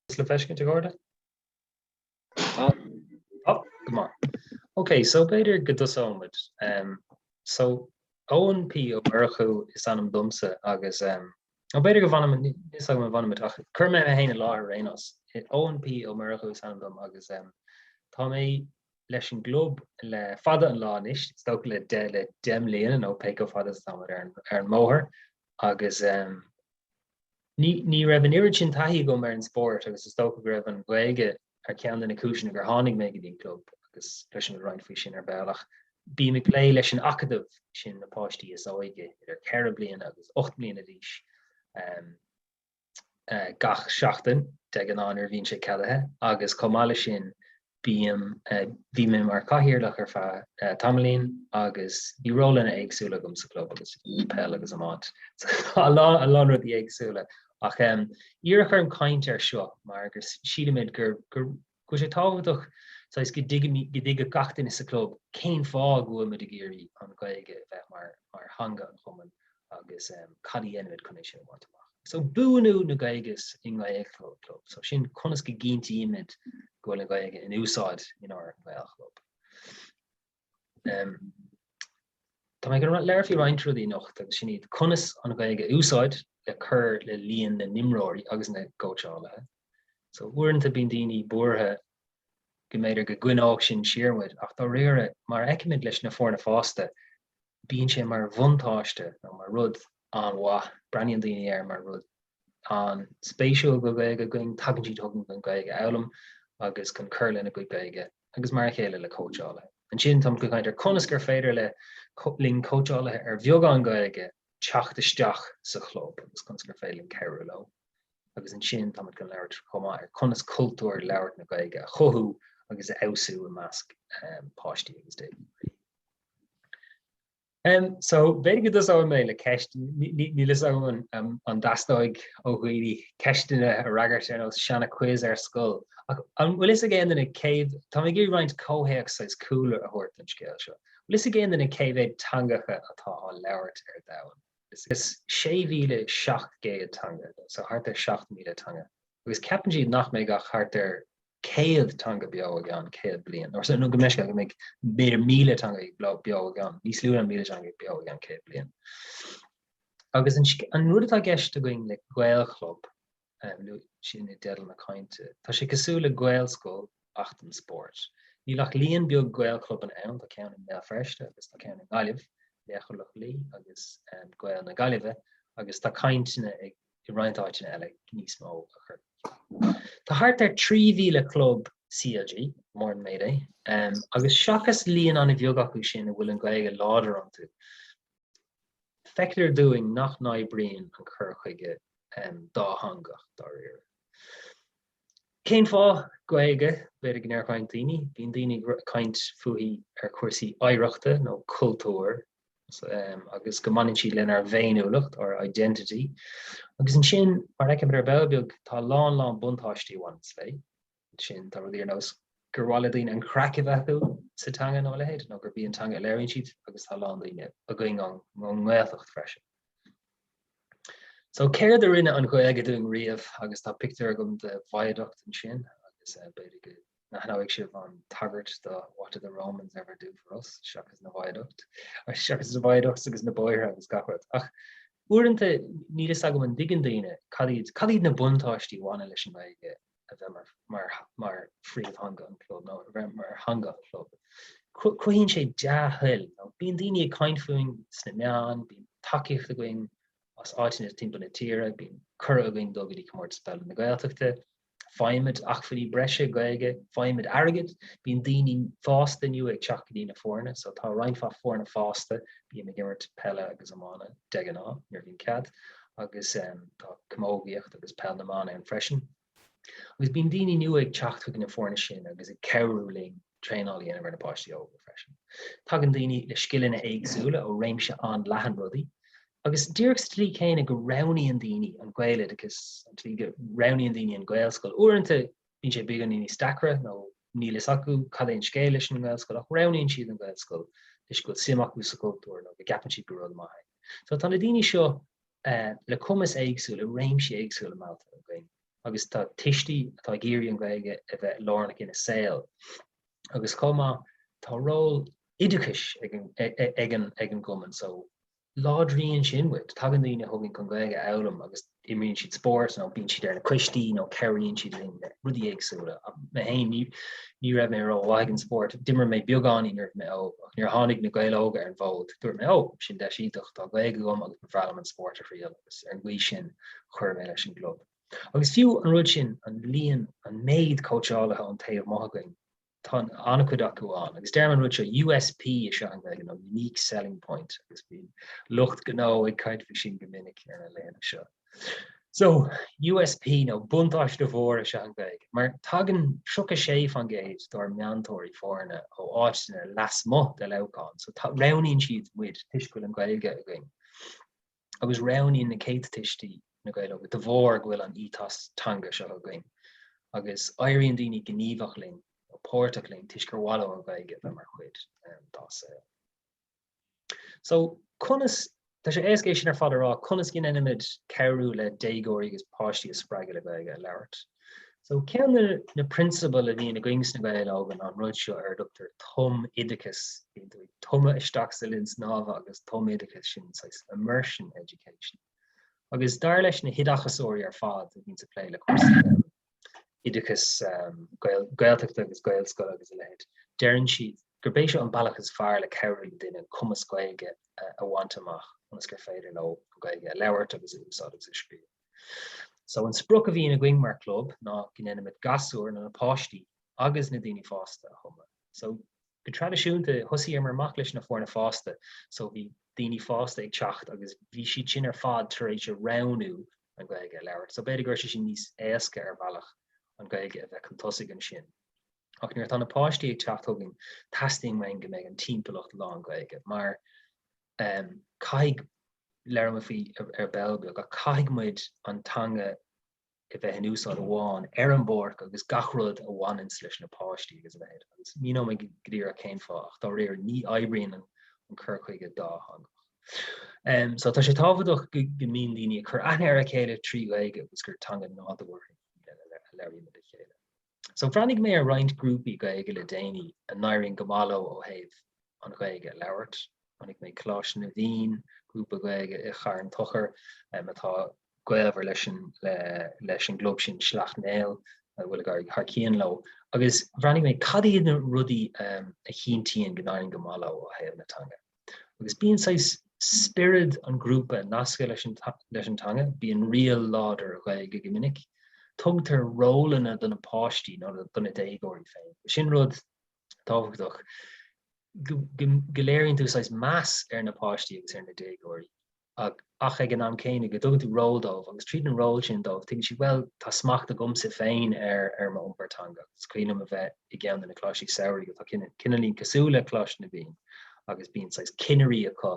An bhfuil sé le feiscint agaibh? Tá. Tá? Go maith. Ok, so b'fhéidir go dtosóidh muid. So Eoin P Ó Murchú is ainm domsa agus em nó b'fhéidir go bhfanfaidh muid, níl a fhios agam an bhfanfaidh muid ach cuir mé mé féin i láthair ar aon nós. Eoin P Ó Murchú is ainm dom agus em tá mé leis an gclub le fada an lá anois, is dócha le deich le deich mbliana nó pé chomh fada is atá muid ar an ar an mbóthar agus em Ní raibh an oiread sin taithí agam ar an spórt agus is dócha go raibh an Ghaeilge ar cheann de na cúiseanna gur tháinig mé go dtí an club agus cloisfimid roinnt faoi sin ar ball ach bím ag plé leis an Acadamh, sin na páistí is óige, idir ceithre bliana agus ocht bliana d'aois, gach seachtain, de ghnáth nuair a bhíonn sé ceadaithe, agus chomh maith leis sin, bím, bhí mé mar cathaoirleach ar feadh tamaillín agus bhí rólanna éagsúla agam sa chlub agus ag peil agus iomáint, a lán, a lán rudaí éagsúla ach iarradh orm caint air seo mar gur sílimid gur, go bhfuil sé tábhachtach saghas go dtuigimid, go dtuigfeadh gach duine sa chlub cén fáth go bhfuil muid ag iarraidh an Ghaeilge a bheith mar, mar theanga an chumainn agus cad a dhéanfaimid chun é sin a bhaint amach. So buanú na Gaeilge i nGaelchlub, so sin conas go gcinntímid go bhfuil an Ghaeilge in úsáid inár nGaelchlub. Táimid ag labhairt faoi roinnt rudaí anocht agus sin iad conas an Ghaeilge a úsáid le cur le líon na n-imreoirí agus na gcóitseálaithe. So uaireanta bíonn daoine buartha go mb'fhéidir go gcoinneodh sin siar muid ach dáiríre mar a fheicimid leis na foirne fásta bíonn sé mar bhuntáiste nó mar rud an-mhaith, breathnaíonn daoine air mar rud an-spéisiúil go Gaeilge againn, tagann siad chugainn chun Gaeilge a fhoghlaim agus chun cur lena gcuid Gaeilge agus mar a chéile le cóitseálaithe. Ansin táimid chun caint ar conas gur féidir le cóitseálaithe ar bheagán Gaeilge teacht isteach sa chlub agus conas gur féidir linn cabhrú leo. agus ansin táimid ag labhairt chomh maith ar conas cultúr labhairt na Gaeilge a chothú agus a fheabhsú i measc páistí agus déagóirí. So, b'fhéidir go dtosóidh mé le ceist, níl 'fhios agam an dtastóidh ó dhaoine ceisteanna a fhreagairt ar nós sean-quiz ar scoil, ach an bhfuil 'fhios ag aon duine cé, tá mé ag iarraidh roinnt comhthéacs saghas cúlra a thabhairt don scéal seo, an bhfuil 'fhios ag aon duine cé mhéad teangacha atá á labhairt ar domhan? Is 6,700 teanga, so thart ar 7,000 teanga, agus ceapann siad nach mbeidh ach thart ar 100 teanga beo i gceann 100 bliain, or so, no, go mbeidh, go mbeidh b'fhéidir 1,000 teanga beo i gceann, níos lú ná 1,000 teanga beo i gceann 100 bliain. Agus an rud atá gceist againn le Gaelchlub, luaigh mé sin i dteideal na cainte. Tá sé cosúil le Gaelscoil ach don spórt. Níl ach líon beag Gaelchlubanna ann, tá ceann i mBéal Feirste agus tá ceann i nGaillimh, Laochra Loch Lao agus Gaeil na Gaillimhe, agus tá cainteanna i roinnt áiteanna eile níos mó a chur. Tá thart ar 3,000 club CLG, mór an méid é, agus seachas líon an-bheag acu sin a bhfuil an Ghaeilge láidir iontu, Feictear dúinn nach n-oibríonn an cur chuige dátheangach, dáiríre. Cén fáth? Gaeilge, b'fhéidir go ndeir roinnt daoine. Bíonn daoine ag caint fúithi ar chúrsaí oidhreachta nó cultúir agus go mbaineann siad lenár bhféiniúlacht, our identity. Agus ansin, mar a fheicimid ar ball beag, tá a lán, lán buntáistí a bhaineas léi. sin tá rudaí ar nós gur mhaith le daoine an chraic a bheith acu sa teanga nó a leithéid nó gurb í an teanga a léiríonn siad agus tá a lán daoine againn ann ón nGaeltacht freisin. So céard a rinne an Ghaeilge dúinn riamh agus tá pictiúr agam de viaduct ansin agus b'fhéidir go n-aithneoidh sibh an tagairt do What did the Romans ever do for us seachas na viaduct seachas na viaducts agus na bóithre agus gach rud ach uaireanta níl a fhios agam an dtuigeann daoine cad iad cad iad na buntáistí a bhaineann leis an nGaeilge a bheith mar phríomhtheanga an chlub nó a bheith mar theanga an chlub. Cruthaíonn sé dea-thoil. Bíonn daoine ag caint fúinn sna meáin, bíonn tacaíocht againn as áiteanna timpeall na tíre, bíonn cuireadh againn dul go dtí Comórtas Peile na Gaeltachta, faighimid acmhainní breise Gaeilge, faighimid airgead, bíonn daoine fásta nua ag teacht go dtí na foirne, so tá roinnt mhaith foirne fásta, bím ag imirt peile agus iomána de ghnáth nuair a bhíonn cead, agus tá camógaíocht agus peil na mban ann freisin. Agus bíonn daoine nua ag teacht chuig na foirne sin agus ag cabhrú linn traenáil a dhéanamh ar na páistí óga freisin. Tagann daoine le scileanna éagsúla ó réimse an-leathan rudaí, agus díreach sa tslí céanna go roghnaíonn daoine an gaeloideachas, an tslí go roghnaíonn daoine an Ghaelscoil uaireanta, Bíonn sé beagáinín níos deacra nó níl a fhios acu cad é an scéal leis an nGaelscoil ach roghnaíonn siad an Ghaelscoil toisc go bhfuil suim acu sa gcultúr nó go gceapann siad gur rud maith é. So tá na daoine seo le cumas éagsúil i réimsí éagsúla meallta againn agus tá tuistí atá ag iarraidh an Ghaeilge a bheith lárnach ina saol agus chomh maith tá ról oideachais ag an ag an ag an gcumann so láidríonn sin muid. Tagann daoine chugainn chun Gaeilge a fhoghlaim agus imríonn siad spórt nó bíonn siad ar na coistí nó cabhraíonn siad linn le rudaí éagsúla. Mé féin, ní ní raibh mé rómhaith ag an spórt. D'imir mé beagáinín nuair a bhí mé óg ach nuair a tháinig Na Gaeil Óga ar an bhfód, dúirt mé 'Ó, sin deis iontach, tá Gaeilge agam agus ba bhreá liom an spórt a thriail' agus ar an gcaoi sin chuir mé leis an gclub. Agus fiú an rud sin, an líon, an méid cóitseálaithe ón taobh amuigh againn, Tá an-chuid acu ann agus deirim an rud seo, USP is ea an Ghaeilge nó Unique Selling Point agus bíonn lucht gnó ag caint faoi sin go minic ar na laethanta seo. So, USP nó buntáiste mhór is ea an Ghaeilge mar tagann 36% dár meantóirí foirne ó áiteanna lasmuigh de Leamhcán so roghnaíonn siad muid toisc go bhfuil an Ghaeilge againn. agus roghnaíonn na céadta tuistí Na Gaeil Óga de bharr go bhfuil an Ethos teanga seo againn agus éiríonn daoine gníomhach linn nó páirteach linn toisc gur mhaith leo an Ghaeilge a bheith mar chuid dá saol. So, conas, tá sé éasca é sin ar fad a rá, conas go ndéanaimid cabhrú le déagóirí agus páistí a spreagadh le Gaeilge a labhairt? So ceann de na prionsabail a bhíonn againn sna Gaeil Óga ná an rud seo ar a dtugtar tumoideachas. Bíonn tú ag tumadh isteach sa linn snámha agus tumoideachas sin saghas immersion education. Agus dar leis na hoideachasóirí ar fad a bhíonns ag plé le cúrsaí oideachais Gaeltachta agus Gaelscoile agus a leithéid, deireann siad gurb é seo an bealach is fearr le cabhrú le duine cumas Gaeilge a bhaint amach ionas gur féidir leo an Ghaeilge a labhairt agus a úsáid agus a scríobh. So an sprioc a bhíonn againn mar club ná go ndéanaimid gasúir nó na páistí agus na daoine fásta a thumadh. So go traidisiúnta thosaíomar amach leis na foirne fásta so bhí daoine fásta ag teacht agus bhí siad sin ar fad tar éis a roghnú an Gaeilge a labhairt. So b'fhéidir go raibh sé sin níos éasca ar bhealach an Gaeilge a bheith chun tosaigh ansin. Ach nuair atá na páistí ag teacht chugainn, teastaíonn uainn go mbeidh an timpeallacht lán Gaeilge mar caithfidh, labhróidh mé faoi ar ball beag, ach caithfidh muid an teanga a bheith in úsáid amháin ar an bpáirc agus gach rud a bhaineanns leis na páistí agus a leithéid. Agus míneoidh mé go díreach cén fáth ach dáiríre ní oibríonn an cur chuige dátheangach. So tá sé tábhachtach go mbíonn daoine ag cur aithne ar a chéile trí Ghaeilge agus gur teanga nádúrtha í a labhraímid le chéile. So bhreathnaigh mé ar roinnt grúpaí Gaeilge le déanaí a n-éiríonn go maith leo ó thaobh an Ghaeilge a labhairt. Chonaic mé Coláiste na bhFiann, grúpa Gaeilge i Charn Tóchair um atá gaolmhar leis an le leis an gclub sin Sleacht Néill a bhfuil ag éirí thar cionn leo. Agus bhreathnaigh mé cad iad na rudaí um a chinntíonn go n-éiríonn go maith leo ó thaobh na teanga. agus bíonn saghas spiorad an ghrúpa nasctha leis an teanga, bíonn riail láidir Ghaeilge go minic, tugtar rólanna do na páistí nó do na déagóirí féin. Sin rud tábhachtach, go léiríonn tú saghas meas ar na páistí agus ar na déagóirí. ach ag an am céanna go dtugann tú ról dóibh agus tríd an ról sin dóibh tuigeann siad 'bhuel tá smacht agamsa féin ar m'iompar teanga agus is cuimhin liom a bheith i gceann de na coláistí samhraidh atá cineál, cineálín cosúil le Coláiste na bhFiann agus bíonn saghas cinnirí acu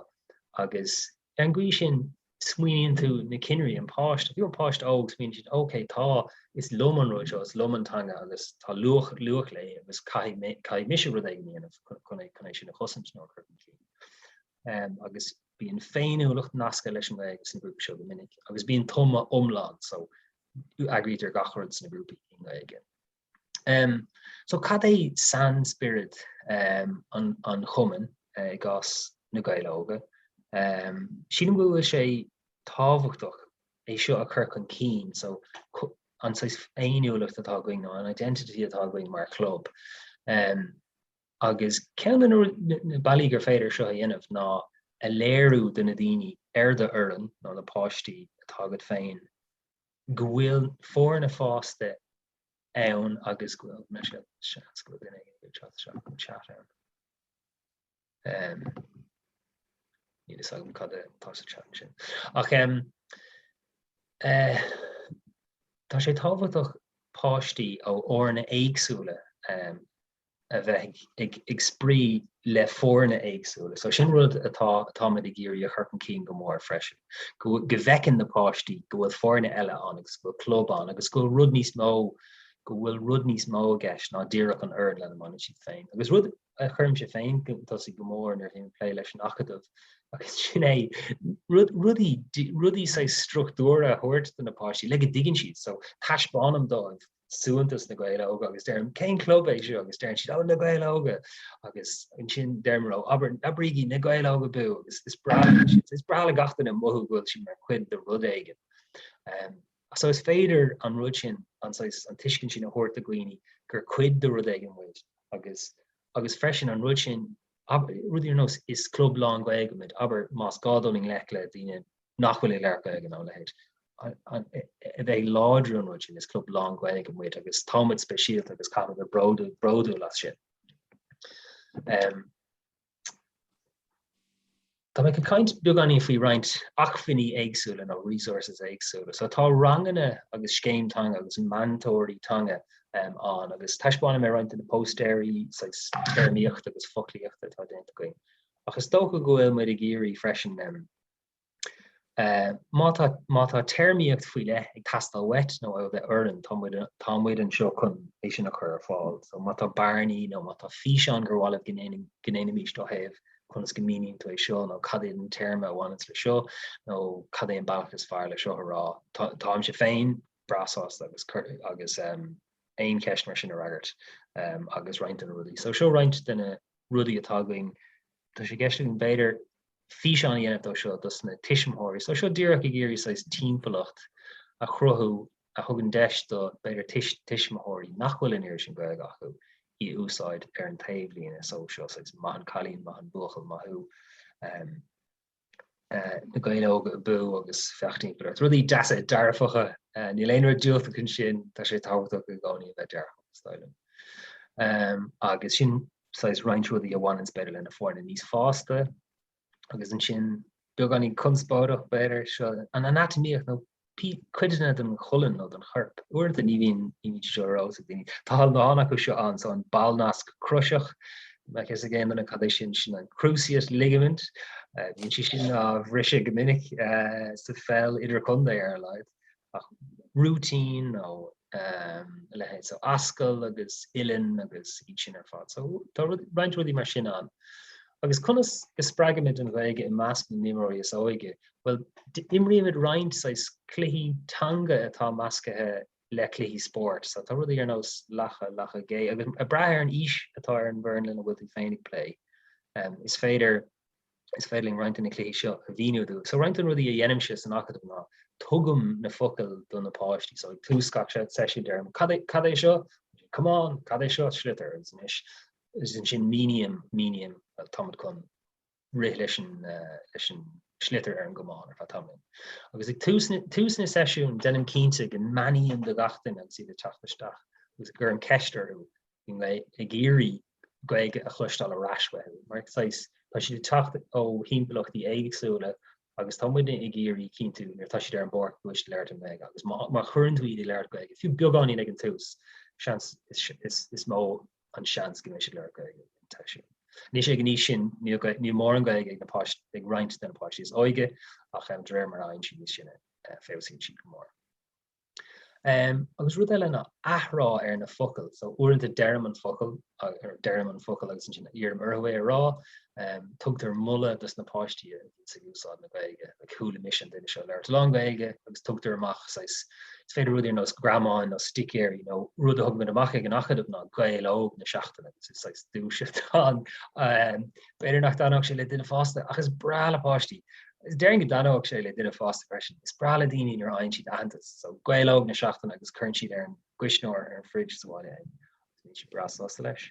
agus ar an gcaoi sin smaoiníonn tú na cinnirí, an páiste, fiú an páiste óg smaoiníonn siad 'ok tá, is liom an rud seo, is liom an teanga agus tá luach, luach léi agus caithfidh mé, caithfidh mise rud éigin a dhéanamh chun, chun é sin a chosaint nó a chur chun cinn'. Agus. Bíonn féiniúlacht nasctha leis an nGaeilge sna grúpaí seo go minic agus bíonn tumadh iomlán so eagraítear gach rud sna grúpaí i nGaeilge. So cad é sainspiorad an chumainn i gcás Na Gaeil Óga? Sílim go bhfuil sé tábhachtach é seo a chur chun cinn so an saghas féiniúlacht atá againn nó an identity atá againn mar chlub. agus ceann de na bealaí gur féidir seo a dhéanamh ná a léiriú do na daoine ar do fhoireann, nó na páistí atá agat féin, go bhfuil foirne fásta ann agus go bhfuil seans go bhfuil duine éigin ag teacht isteach chun chat ann. Níl fhios agam cad atá sa chat ansin. Ach eh, tá sé tábhachtach páistí ó fhoirne éagsúla a bheith ag spraoi le foirne éagsúla. So sin rud atá atáimid ag iarraidh a chur chun cinn go mór freisin. Go go bhfeiceann na páistí go bhfuil foirne eile ann agus go bhfuil club ann agus go bhfuil rud níos mó go bhfuil rud níos mó i gceist ná díreach an fhoireann lena mbaineann siad féin. Agus rud a chuirimse chun tosaigh go mór nuair bhím ag plé leis an acadamh agus sin é rud rudaí rudaí saghas struchtúrtha a thabhairt do na páistí le go dtuigeann siad so taispeánaim dóibh suaitheantas na Gaeil Óga agus deirim cén club é seo agus deireann siad ó na Gaeil Óga agus ansin deirim leo abair abraigí na Gaeil Óga abú agus is breá leo sin. Is breá le gach duine mothú go bhfuil siad mar chuid de rud éigin. So is féidir an rud sin, an saghas, an tuiscint sin a thabhairt do dhaoine gur cuid de rud éigin muid agus agus freisin an rud sin, abair, rudaí ar nós is club lán-Ghaeilge muid abair más gá dul i ngleic le daoine nach bhfuil ag labhairt Gaeilge nó a leithéid. A bheith ag láidriú an rud sin? Is club lán-Ghaeilge muid agus tá muid speisialta agus caithfidh muid a bheith bródúil bródúil as sin. Tá mé ag caint beagáinín faoi roinnt acmhainní éagsúla nó resources éagsúla. So tá ranganna agus scéim teanga agus meantóirí teanga ann agus taispeánfaidh mé roinnt de na póstaeirí saghas téarmaíochta agus foclóireachta atá déanta againn. Ach is dócha go bhfuil muid ag iarraidh freisin Má tá téarmaíocht faoi leith ag teastáil uait nó ó d'fhoireann, tá muid anseo chun é sin a chur ar fáil. So má tá bearnaí nó má tá físeán gur mhaith libh go ndéanfaimis ina thaobh, conas go míníonn tú é seo nó cad é an téarma a bhaineanns le seo nó cad é an bealach is fearr le seo a rá, táimse féin breá sásta aon cheist mar sin a fhreagairt agus roinnt de na rudaí. So seo roinnt de na rudaí atá againn Tá sé i gceist againn b'fhéidir físeán a dhéanamh de seo, dos na tuismitheoirí. So seo díreach ag iarraidh saghas timpeallacht a chruthú a thugann deis do b'fhéidir tuismitheoirí nach bhfuil an oiread sin Gaeilge acu í a úsáid ar an taobhlíne. So seo saghas maith an cailín, maith an buachaill, maith thú. na Gaeil Óga Abú agus féach timpeall ort. Rudaí deasa dearfacha, níl aon rud diúltach ansin, tá sé tábhachtach i gcónaí a bheith dearfach is dóigh liom. Agus sin saghas roinnt rudaí a bhaineann b'fhéidir lena foirne níos fásta agus ansin beagáinín conspóideach b'fhéidir seo an anatamaíocht nó codanna den cholainn nó den chorp. Uaireanta ní bhíonn siad seo ar eolas ag daoine. Tá a lán acu seo ann, so an ballnasc croiseach, má tá a fhios ag aon duine cad é sin, sin an cruciate ligament. Bíonn sé sin á bhriseadh go minic sa pheil idirchontae ar a laghad. Rúitín nó a leithéid. So ascaill agus uillinn agus iad sin ar fad. So tá roinnt rudaí mar sin ann. Agus conas go spreagaimid an Ghaeilge i measc na n-imreoirí is óige Bhuel, imrímid roinnt saghas cluichí teanga atá meascaithe le cluichí spóirt. So, tá rudaí ar nós lacha, lacha gé, agus ag brath ar an aois atá ar an bhfoireann lena bhfuil tú féin ag plé, is féidir, is féidir linn roinnt de na cluichí seo a mhíniú dóibh. So, roinnt de na rudaí a dhéanaimse san Acadamh ná tugaim na focail do na páistí. So, ag tús gach seisiúin deirim, cad é, cad é seo? Come on! Cad é seo? Sliotar. Is ansin míním, míním, táimid chun. rith leis an sliotar ar an gcamán ar feadh tamaill. Agus ag tús na seisiún deinim cinnte go mbeannaím do gach duine agus iad ag teacht isteach agus go gcuirim ceist orthu i nGaeilge ag iarraidh Gaeilge a chloisteáil ar ais uathu mar saghas tá siad ag teacht ó thimpeallachtaí éagsúla agus tá muidne ag iarraidh cinntiú nuair atá siad ar an bpáirc go bhfuil siad ag labhairt Gaeilge agus má chuireann tú iad ag labhairt Gaeilge fiú beagáinín ag an tús is mó an seans go mbeidh siad ag labhairt Gaeilge sa tseisiún. Anois ag an aois sin níl mórán Gaeilge ag na páistí, ag roinnt de na páistí is óige ach de réir mar a fhaigheann siad níos sine feabhsaíonn siad go mór. Agus rud eile ná athrá ar na focail. So uaireanta deirim an focal agus ansin iarraim orthu é a rá. Tugtar moladh dos na páistí ag úsáid na Gaeilge like chuala mise an duine seo ag labhairt a lán Gaeilge agus tugtar amach saghas is féidir rud ar nós greamán nó sticéir you know rud a thugamid amach ag an acadamh ná Gael Óg na seachtaine agus is saghas duais atá ann umm b'fhéidir nach dtaitneodh sé le duine fásta ach is breá le páistí is déarfainn go dtaitneodh sé le duine fásta freisin is breá le daoine nuair a fhaigheann siad aitheantas so Gael Óg na seachtaine agus cuireann siad ar an gcuisneoir ar an fridge sa bhaile agus bíonn siad breá sásta leis.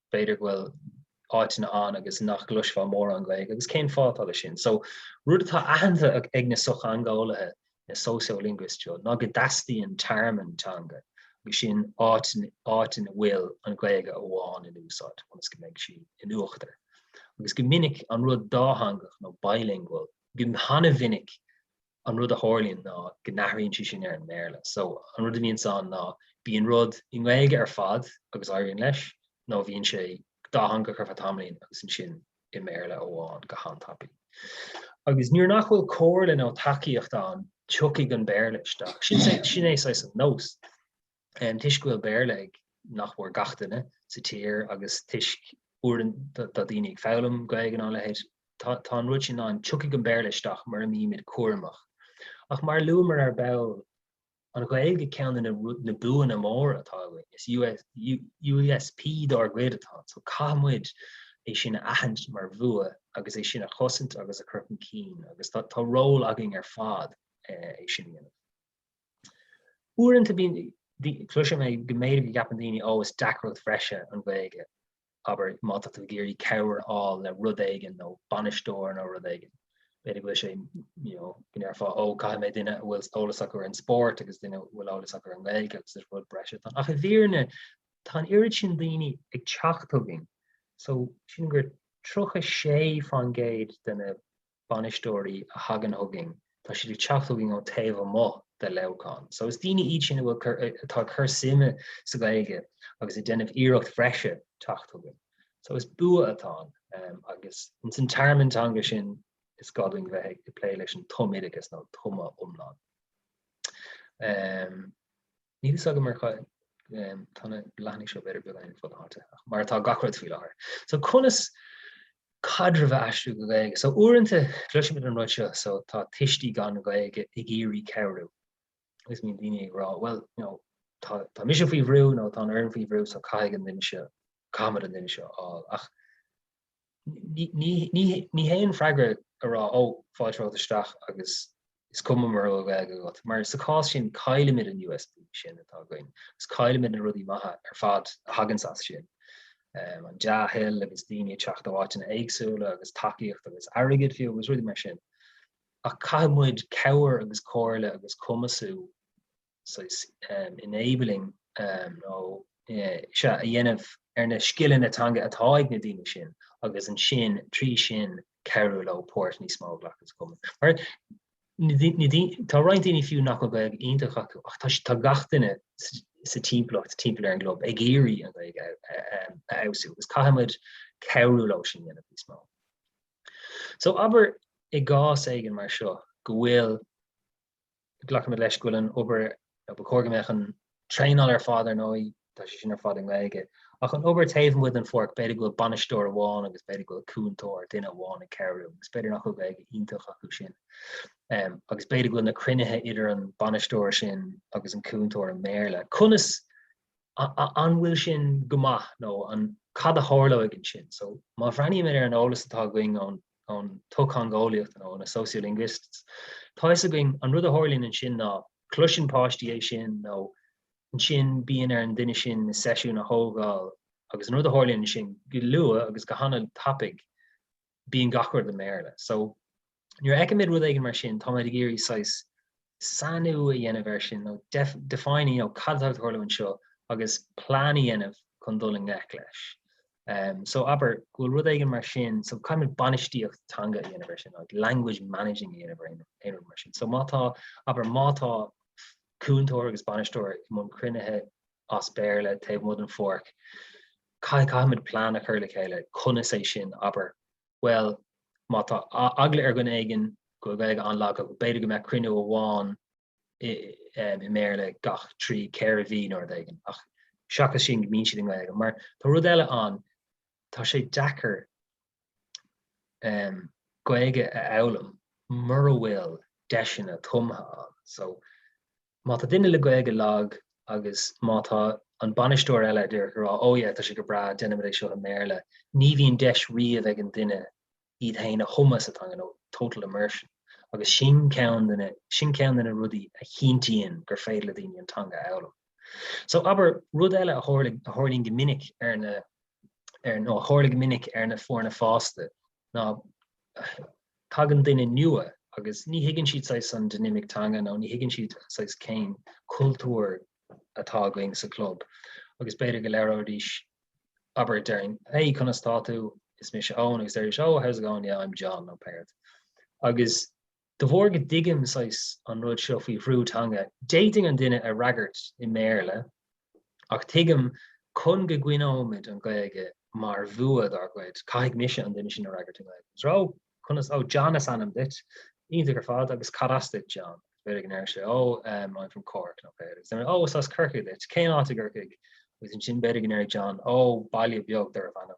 b'fhéidir go bhfuil áiteanna ann agus nach gcloisfeá mórán Gaeilge agus cén fáth atá leis sin? So, rud atá aitheanta ag na sochtheangeolaithe, na sociolinguists seo, ná go dteastaíonn tearmann teanga agus sin áit, áit ina bhfuil an Ghaeilge amháin in úsáid ionas go mbeidh sí in uachtar. Agus go minic an rud dátheangach nó bilingual, go han-mhinic, an rud a tharlaíonn ná go n-athraíonn sé sin ar an mBéarla. So, an rud a bhíonns ann ná bíonn rud i nGaeilge ar fad agus éiríonn leis, nó bíonn sé dátheangach ar feadh tamaillín agus ansin i mBéarla amháin go han-tapaidh. Agus nuair nach bhfuil comhairle nó tacaíocht ann, tiocfaidh an Béarla isteach. Sin é saghas an nós. toisc go bhfuil Béarla ag nach mór gach duine sa tír agus toisc uaireanta tá daoine ag foghlaim Gaeilge nó a leithéid, tá an rud sin ann, tiocfaidh an Béarla isteach mura mbímid cúramach. Ach mar a luamar ar ball, an Ghaeilge ceann de na buanna móra atá againn, is USP dár gcuid atá ann, so caithfidh muid é sin a aithint mar bhua agus é sin a chosaint agus a chur chun cinn agus tá ról againn ar fad é sin a dhéanamh. Uaireanta bíonn, cloiseann mé go mb'fhéidir go gceapann daoine ó is deacracht bhreise an Ghaeilge, abair má tá tú ag iarraidh cabhair a fháil le rud éigin nó bainisteoir nó rud éigin, b'fhéidir go bhfuil sé, you know, go ndéarfá ó caithfidh mé duine a bhfuil eolas acu ar an spórt agus duine a bhfuil eolas acu ar an nGaeilge agus is rud breise atá ann, ach i bhfírinne tá an oiread sin daoine ag teacht chugainn so sin gur tríocha sé faoin gcéad de na bainisteoirí a thagann chugainn, tá siad ag teacht chugainn ó taobh amuigh de Leamhcán. So is daoine iad sin a bhfuil cur, atá ag cur suime sa Ghaeilge agus ag déanamh iarracht bhreise teacht chugainn. So is bua atá ann ehm agus in san tearmann teanga sin is gá dúinn bheith ag plé leis an tumoideachas nó tumadh iomlán. Ehm. Níl a fhios agam mar tá na leathanaigh seo b'fhéidir beagán fud fad mar atá gach rud faoi láthair. So conas caidreamh a aistriú go Gaeilge? So uaireanta cloisimid an rud seo so tá tuistí gan Ghaeilge ag iarraidh cabhrú agus bíonn daoine ag rá bhuel you know tá tá mise faoi bhrú nó tá an fhoireann faoi bhrú so caithfidh an duine seo caithfimid an duine seo a fháil ach Ní hé an freagra a rá 'Ó, fáilte romhat isteach agus is cuma mura bhfuil Gaeilge agat' mar sa chás sin caillimid an USP sin atá againn agus caillimid na rudaí maithe ar fad a thaganns as sin, an dea-thoil agus daoine ag teacht ó áiteanna éagsúla agus tacaíocht agus airgead fiú agus rudaí mar sin. Ach caithfidh muid cabhair agus comhairle agus cumasú. saghas enabling nó so a dhéanamh ar na scileanna teanga atá ag na daoine sin agus ansin trí sin cabhrú leo páirt níos mó a ghlacadh sa Chumann. Mar na dí- na dí- tá roinnt daoine fiú nach bhfuil Gaeilge iontach acu ach tá s- tá gach duine s- sa timpeallacht timpeall ar an gclub ag iarraidh an Ghaeilge a- a- em, a fheabhsú agus caithfimid cabhrú leo é sin a dhéanamh níos mó. So abair i gcás éigin mar seo go bhfuil Glacaimid leis go bhfuil an obair, nó ba chóir go mbeadh an traenáil ar fad ar ndóigh, tá sé sin ar fad i nGaeilge. Ach an obair taobh amuigh den pháirc, b'fhéidir go bhfuil bainisteoir amháin agus b'fhéidir go bhfuil cúntóir, duine amháin ag cabhrú, agus b'fhéidir nach bhfuil Gaeilge iontach acu sin. Um, agus b'fhéidir go bhfuil na cruinnithe idir an bainisteoir sin agus an cúntóir i mBéarla. Conas an bhfuil sin go maith nó an cad a tharlóidh ansin? So má bhreathnaímid ar an eolas atá againn ón ón tsochtheangeolaíocht nó na sociolinguists, tá fhios againn an rud a tharlaíonn ansin ná cloiseann páistí é sin nó ansin bíonn ar an duine sin na seisiúin a thógáil agus an rud a tharlaíonn ansin go luath agus go hana tapaidh bíonn gach rud i mBéarla. So. Nuair a fheicimid rud éigin mar sin, táimid ag iarraidh saghas sainiú a dhéanamh air sin nó define, you know, cad atá ag tarlú anseo agus plean a dhéanamh chun dul i ngleic leis. So abair go bhfuil rud éigin mar sin, so caithfimid bainistíocht teanga a dhéanamh air sin nó language managing a dhéanamh ar aon rud mar sin. So má tá, abair má tá cúntóir agus bainisteoir i mbun cruinnithe as Béarla taobh amuigh den pháirc, caithfimid plean a chur le chéile conas é sin, abair, Bhuel, má tá eagla ar dhuine éigin go bhfuil Gaeilge an-lag aige, b'fhéidir go mbeadh cruinniú amháin i mBéarla gach trí, ceithre mhí nó rud éigin, ach seachas sin go mbíonn siad i nGaeilge. Mar tá rud eile ann, tá sé deacair Gaeilge a fhoghlaim mura bhfuil deiseanna tumtha ann. Má tá duine le Gaeilge lag agus má tá an bainisteoir eile díreach ag rá oh yeah tá sé go breá, déanaimid é seo i mBéarla, ní bhíonn deis riamh ag an duine iad féin a thumadh sa teanga nó total immersion agus sin ceann de na sin ceann de na rudaí a chinntíonn gur féidir le daoine an teanga a fhoghlaim. So abair, rud eile a tharl- a tharlaíonn go minic ar na ar nó a tharla go minic ar na foirne fásta ná tagann duine nua agus ní thuigeann siad saghas an dinimic teanga nó ní thuigeann siad saghas cén cultúr atá againn sa club agus b'fhéidir go labhróidís abair déarfainn hey conas tá tú is mise Eoin agus déarfaidís oh how's it going yeah I'm John nó pé rud agus de bharr go dtuigim saghas an rud seo faoi bhrú teanga d'fhéadfainn an duine a fhreagairt i mBéarla Ach tuigim, chun go gcoinneoimis an Ghaeilge mar bhua dár gcuid, caithfidh mise an duine sin a fhreagairt i nGaeilge. A rá, conas, oh, John is ainm duit. Iontach ar fad, agus cad as duit, John? Agus b'fhéidir go ndéarfadh sé, oh, em, I'm from Cork, nó b'fhéidir, agus oh, is as Corcaigh duit, cén áit i gCorcaigh? Agus ansin b'fhéidir go ndéarfadh John, oh, baile beag darb ainm.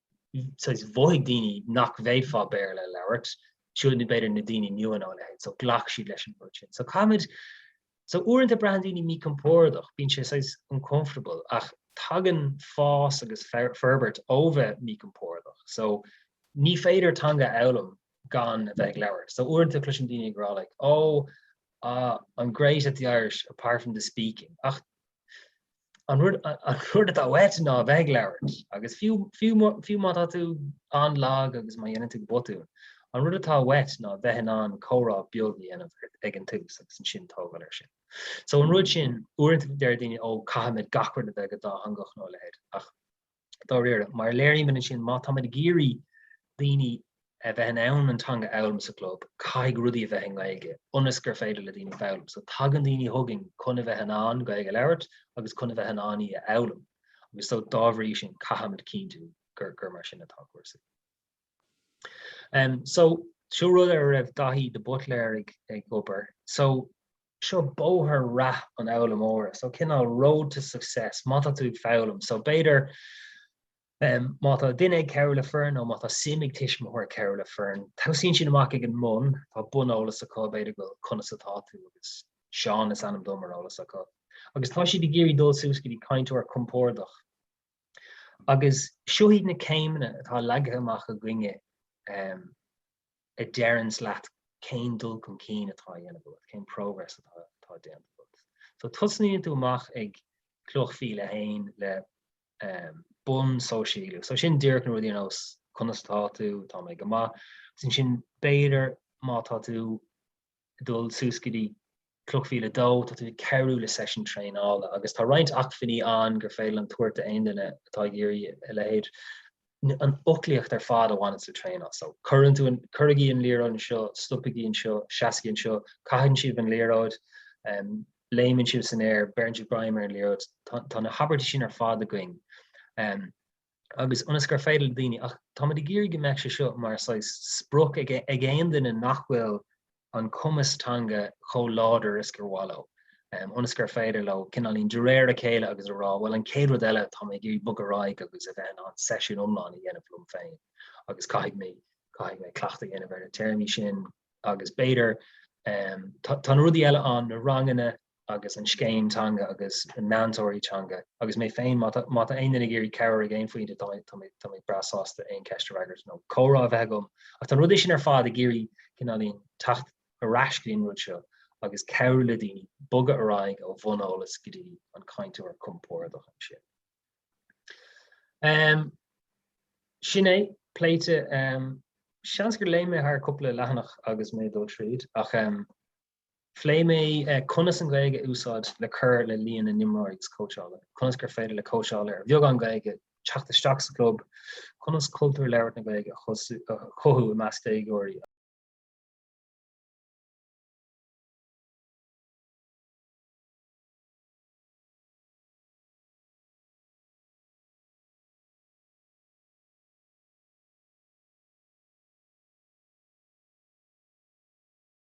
mhothaigh daoine nach bhféadfá Béarla a labhairt, fiú nó b'fhéidir na daoine nua nó a leithéid, so ghlac siad leis an rud sin. So caithfimid, so uaireanta braitheann daoine míchompordach, bíonn sé saghas uncomfortable ach tagann fás agus forbairt ó bheith míchompordach. So ní féidir teanga a fhoghlaim gan a bheith ag labhairt. So uaireanta cloisim daoine ag rá like oh, ah, I'm great at the Irish apart from the speaking ach an rud atá uait ná a bheith ag labhairt agus fiú má tá tú an-lag agus má dhéanann tú botúin, an rud atá uait ná a bheith in ann comhrá beag a dhéanamh ag an tús agus ansin tógáil air sin. So an rud sin, uaireanta deir daoine ó caithfimid gach rud a bheith go dátheangach nó a leithéid ach dáiríre, mar a léirigh mé ansin, má táimid ag iarraidh daoine a bheith in ann an teanga a fhoghlaim sa gclub, caithfidh rudaí a bheith i nGaeilge ionas gur féidir le daoine foghlaim. So tagann daoine chugainn chun a bheith in ann Gaeilge a labhairt agus chun a bheith in ann í a fhoghlaim agus so dá bhrí sin caithimid cinntiú gur gur mar sin atá cúrsaí. Um, so, seo rud a raibh Daithí de Butléir ag, ag obair. So, seo bóthar rath an fhoghlaimeora so cineál road to success má tá tú ag foghlaim so b'fhéidir má tá duine ag cabhrú le foireann nó má tá suim ag tuismitheoir cabhrú le foireann tosaíonn siad amach ag an mbun tá buneolas acu b'fhéidir go conas atá tú agus Seán is ainm dom ar eolas acu agus tá siad ag iarraidh dul suas go dtí cainteoir compordach agus seo iad na céimeanna atá leagtha amach againne um, a deireanns leat cén dul chun cinn atá á dhéanamh agat, cén progress atá atá déanta agat. So tosnaíonn tú amach ag cloch mhíle a haon le um bunsóisialú. So sin díreach na rudaí ar nós conas atá tú, tá mé go maith. Agus ansin b'fhéidir má tá tú dul suas go dtí Cloch Mhíle 2, tá tú ag cabhrú le seisiún traenála agus tá roinnt acmhainní ann gur féidir linn tabhairt d'aon duine atá ag iarraidh a leithéid, an fhoclaíocht ar fad a bhaineanns le traenáil. So, cuireann tú an, cuirigí an liathróid anseo, stopaigí anseo, seasaigí anseo, caitheann sibh an liathróid, léimeann sibh san aer, beireann sibh greim ar an liathróid, tá na habairtí sin ar fad againn. agus ionas gur féidir le daoine, ach táimid ag iarraidh go mbeadh sé seo mar saghas sprioc ag aon duine nach bhfuil an cumas teanga chomh láidir is gur mhaith leo, ionas gur féidir leo cineáilín de réir a chéile agus a rá, bhuel an chéad rud eile tá mé ag iarraidh bogadh ar aghaidh agus a bheith in ann seisiún iomlán a dhéanamh liom féin agus caithfidh mé, caithfidh mé cleachtadh a dhéanamh ar na téarmaí sin agus b'fhéidir, tá na rudaí eile ann, na ranganna, agus an scéim teanga agus na meantóirí teanga agus mé féin, má tá aon duine ag iarraidh cabhair ag aon phointe tá mé breá sásta aon cheist a fhreagairt nó comhrá a bheith agam ach tá na rudaí sin ar fad ag iarraidh cineáilín teacht ar ais go dtí an rud seo agus cabhrú le daoine bogadh ar aghaidh ó bhun eolas go dtí an cainteoir compórdach ansin. Um, sin é, pléite, um, seans gur léim mé thar cúpla leathanach agus mé ag dul tríd ach um, Phléigh mé conas an Ghaeilge a úsáid le cur le líon na n-imreoirí agus cóitseálaithe, conas gur féidir le cóitseálaithe ar bheagán Gaeilge teacht isteach sa chlub, conas cultúr labhairt na Gaeilge a chothú i measc déagóirí,